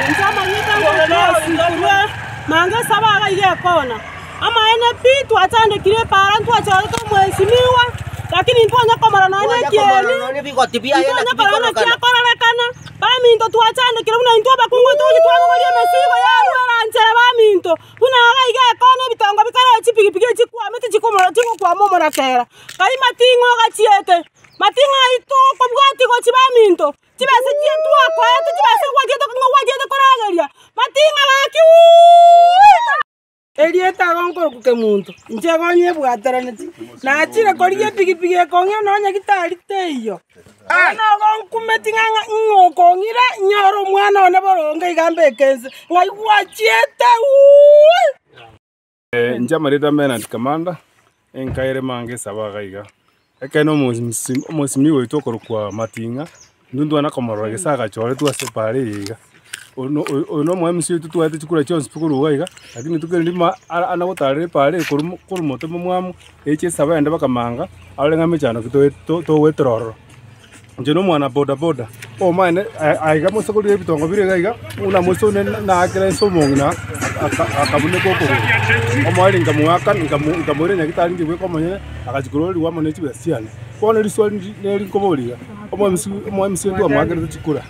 Inche amanyete amang'ana onsi korwa mambia esaba iga iga ekona. Amaene pi twachandekire epaara ntwachorete omwesinigwa, lakini ntwanya komora nonya ekieni, ntwanya korora naki akororekana. Baminto twachandekire buna intwe abakungu togochia twabogori emesigo ya rweranchera baminto, buna iga iga ekona ebitongo bikareo chipigipigi echi chikwame tichikomora tigokwama omoratera. Kai mating'oga chiete, mating'o aitwe okobwatia gochia baminto. Chibesa chiria twakoete chibesa gwatiete ng'a gwatiete korageria mating'a gaki uuita. Erieta agonkorokuke monto, inche egonye ebwataraneti, nachire korigia epigipigi ekong'ira nonye gitari teiyo. Aya nagonkumeti ng'a ing'okong'ira inyore omwana one boronge iga mbeke inse, ng'ai gwachiete uuii. Nchamarete ame na Tikamanda, enka ere manga esaba iga iga. Ekeene omosi- omosibimi oito okorokwa Mating'a, intwe ntwane komorora gese agachoretwe ase epaara eye iga. Oyo no- oyo- oyo no omwami oito totwarete chikura chionsi pi korwa iga iga, lakini rituko erinde ma- ara- ana gotarera epaara eye korwa mo- korwa motemo mwamo, eche esaba yande mpaka manga, arore ng'a mechando ki toe- to- togoetera ororo. Inche nomwana boda boda omanyene aiga moisokori ebitongo bire iga iga, buna moisore naakera ense omong'ina akabuneka okogoro. Omoerio nkamogakana nkamoira nyagetari inche bweka omonyene, agachia korwa ororiwo amo ne chibesa chiane. Bono eriswa neri nkoboria iga, omoemisi omoemisi oria twamoakerete chikura.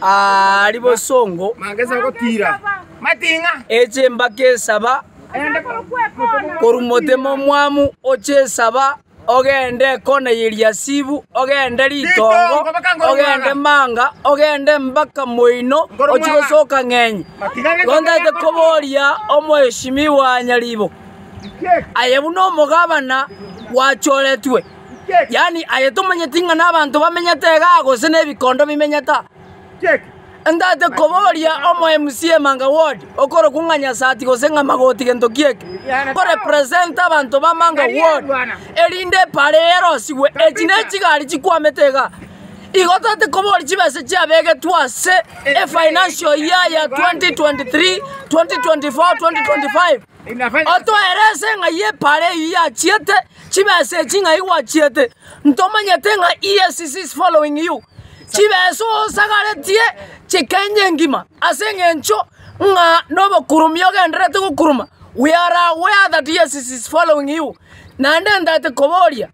Aari bosongo echimbake esaba korwa motema omwamu oche esaba ogende kona y'Eliasibu ogende ritongo ogende manga ogende mbaka moino ochi gosoka ng'enye gontagete koboria omoeshimiwa Nyaribo aye buna omogabana gwachoretwe. yaani aye tomanyeti ng'a nabanto bamenyete igaa gose nebikondo bimenyeta. Entagete koboria omo MC emanga ward okorokwa ng'a Nyasati gose ng'a Magoti gento gieke, ko represent abanto ba manga ward erinde epara eye erosigwe. Echi nechigari chikwamete igaa. Igo totagete koboria chibesa chiabegetwe ase efinancial year ya 2023, 2024, 2025 otoerese ng'ai epara eyio yachiete. Chibesa echi ng'ai gwachiete? Ntomanyete ng'a EACC is following you. Chibesa osagaretie chikenya engima ase eng'encho ng'a nobokuromi ogendererete gokuroma we are aware that EACC is following you naende ntaete koboria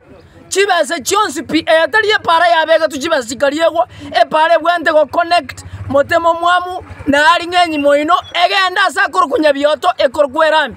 chibesa chionsi pi eyo tari epara yabegetwe chibesa chikariegwa epara ebwanete go connect motema omwamu na aring'enyi moino egende ase akorokunya bioto ekorokwera ime.